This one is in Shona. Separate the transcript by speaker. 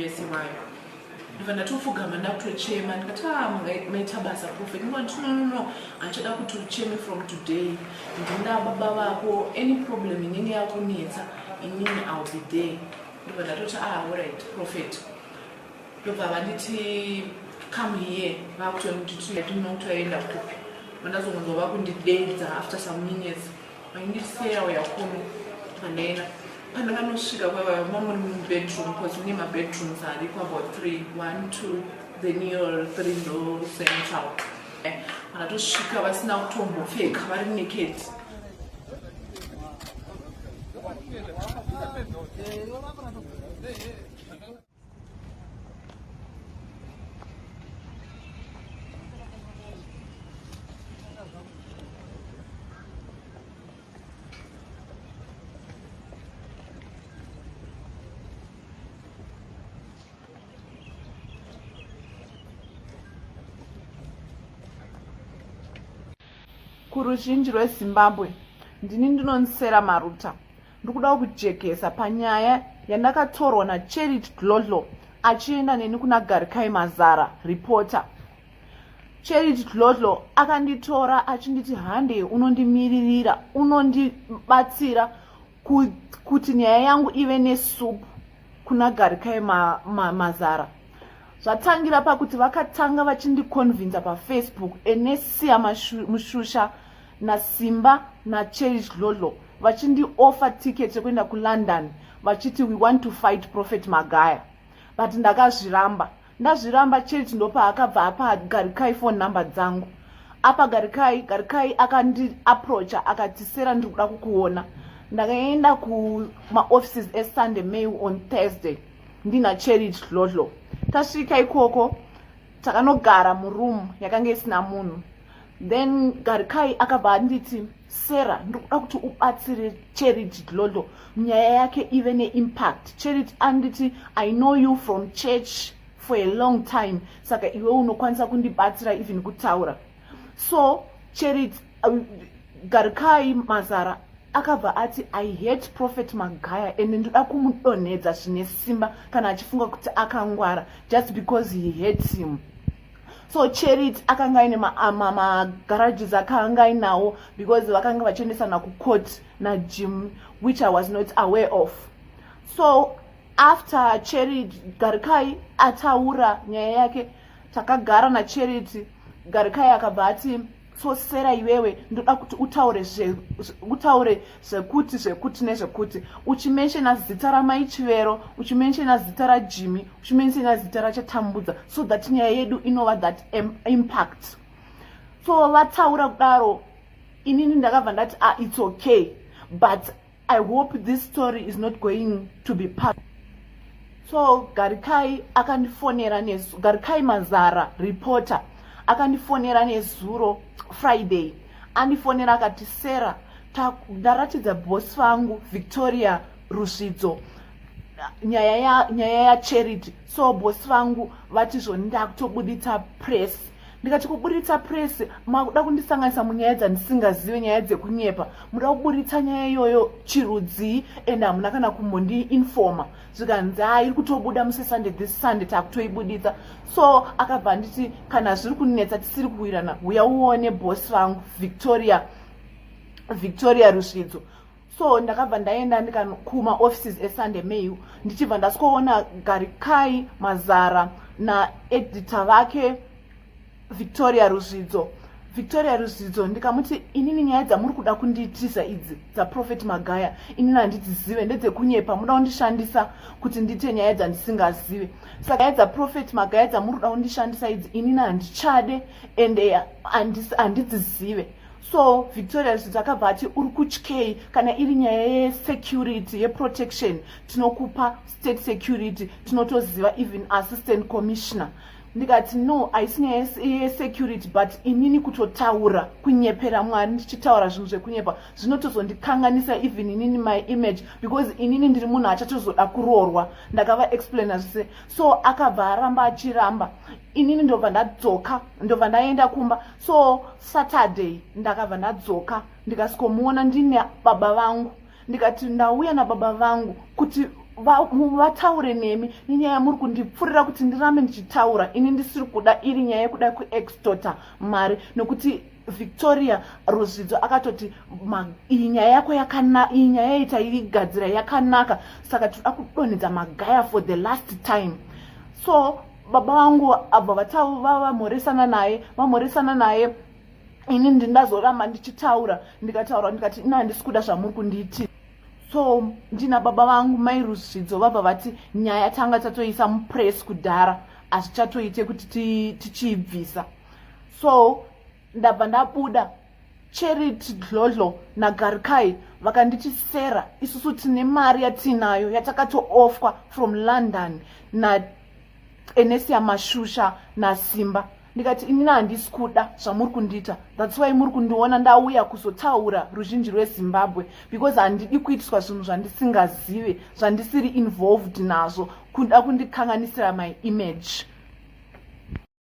Speaker 1: yese vayo ndibva ndatopfugama ndakutochema ndikati a ah, maita basa profet ndikati no no no handichada kuti ucheme from today ndinda baba vako any problem inenge yakunetsa inini ill be there ndibva ndatoti a ah, orit profet ndobva vanditi come here vakutonditinokutayenda kupi vandazongonzwa vakundideidza after some minutes vaindiseya uya kuno pandaenda pandakanosvika kwavava mamuri mubedroom bcause mune mabedrooms ariko about three one two then your three ndo central vanatosvika vasina kutombopfeka vari naked kuruzhinji rwezimbabwe ndini ndinonsera maruta ndikudawo kujekesa panyaya yandakatorwa nacherit dlodlo achienda neni kuna garikai mazara ripota cherit dlodlo akanditora achinditi hande unondimiririra unondibatsira kuti nyaya yangu ive nesupu kuna garikai ma, ma, mazara zvatangira pakuti vakatanga vachindikonvinza pafacebook enesiya mushusha nasimba nacherit dlodlo vachindioffer ticket yekuenda kulondon vachiti we want to fight prophet magaya but ndakazviramba ndazviramba church ndopaakabva apa garikai phone number dzangu apa garikai garikai akandiaproacha akati sera ndiri kuda kukuona ndakaenda kumaoffices esunday mail on thursday ndina cherich dlodlo tasvika ikoko takanogara muroom yakanga isina munhu then garikai akabva anditi sarah ndikuda kuti ubatsire charity dlodlo nyaya yake ive neimpact charity anditi i know you from church for a long time saka iwe unokwanisa kundibatsira even kutaura so charity uh, garikai mazara akabva ati i hate prophet magaya and ndoda kumudonhedza zvine simba kana achifunga kuti akangwara just because he hates him so charity akanga aine magarages akanga ainawo because vakanga vachiendesana kucourt najim which i was not aware of so after charity garikai ataura nyaya yake takagara nacharity garikai akabva ati so sera iwewe ndoda kuti utaure utaure zvekuti zvekuti nezvekuti uchimenshena zita ramai chivero uchimenshena zita rajimi uchimenshena zita rachatambudza so that nyaya yedu inova that impact so vataura kudaro inini ndakabva ndati a ah, its okay but I hope this story is not going to be part. So Garikai akandifonera nezuro. Garikai Mazara reporter akandifonera nezuro Friday. Andifonera akati Sarah ndaratidza boss vangu Victoria Rusvidzo nyaya ya nyaya ya charity so boss vangu vati zvoni ndakutobuditsa press ndikati kuburitsa press makuda kundisanganisa munyaya dzandisingazive nyaya dzekunyepa muda kuburitsa nyaya iyoyo chirudzii and hamuna kana kumbondiinfoma zvikanzi ha iri kutobuda muse sunday this sunday takutoibuditsa so akabva anditi kana zviri kunetsa tisiri kuwirana huya uone boss vangu victoria victoria rusvidzo so ndakabva ndaenda ndikanokuma offices esunday mail ndichibva ndasikoona garikai mazara naedita vake victoria ruzvidzo victoria ruzvidzo ndikamuti inini nyaya dzamuri kuda kundiitisa idzi dzaprofet magaya inini handidzizive ndedzekunyepa muda kundishandisa kuti ndiite nyaya dzandisingazive saka nyaya dzaprofet magaya dzamuri kuda kundishandisa idzi inini handichade and eh, handidzizive so victoria zvizi akabva ati uri kutyei kana iri nyaya yesecurity yeprotection tinokupa state security tinotoziva even assistant commissioner ndikati no haisi nyaya yesecurity but inini kutotaura kunyepera mwari ndichitaura zvinhu zvekunyepa zvinotozondikanganisa even inini my image because inini ndiri munhu achatozoda kuroorwa ndakava explaina zvese so akabva aramba achiramba inini ndobva ndadzoka ndobva ndaenda kumba so saturday ndakabva ndadzoka ndikasikomuona ndine baba vangu ndikati ndauya nababa vangu kuti vataure va, nemi nenyaya yamuri kundipfurira kuti ndirambe ndichitaura ini ndisiri kuda iri nyaya yekuda kuextota mari nokuti victoria ruzvidzo akatoti iyi nyaya yako iyi nyaya yaita igadzira yakanaka saka tinoda kudonhedza magaya for the last time so baba vangu abva vataura vamhoresana naye vamhoresana naye ini ndindazoramba ndichitaura ndikataura ndikati ina handisi kuda zvamuri kunditi so ndina baba vangu mai rusvidzo vabva vati nyaya tanga tatoisa mupress kudhara hazvichatoite kuti tichiibvisa so ndabva ndabuda charity dlodlo nagarikai vakanditi sera isusu tine mari yatiinayo yatakatoofwa from london naenesia mashusha nasimba ndikati inini handisi kuda zvamuri kundiita thats why muri kundiona ndauya kuzotaura ruzhinji rwezimbabwe because handidi kuitiswa zvinhu zvandisingazive zvandisiri involved nazvo kuda kundikanganisira my image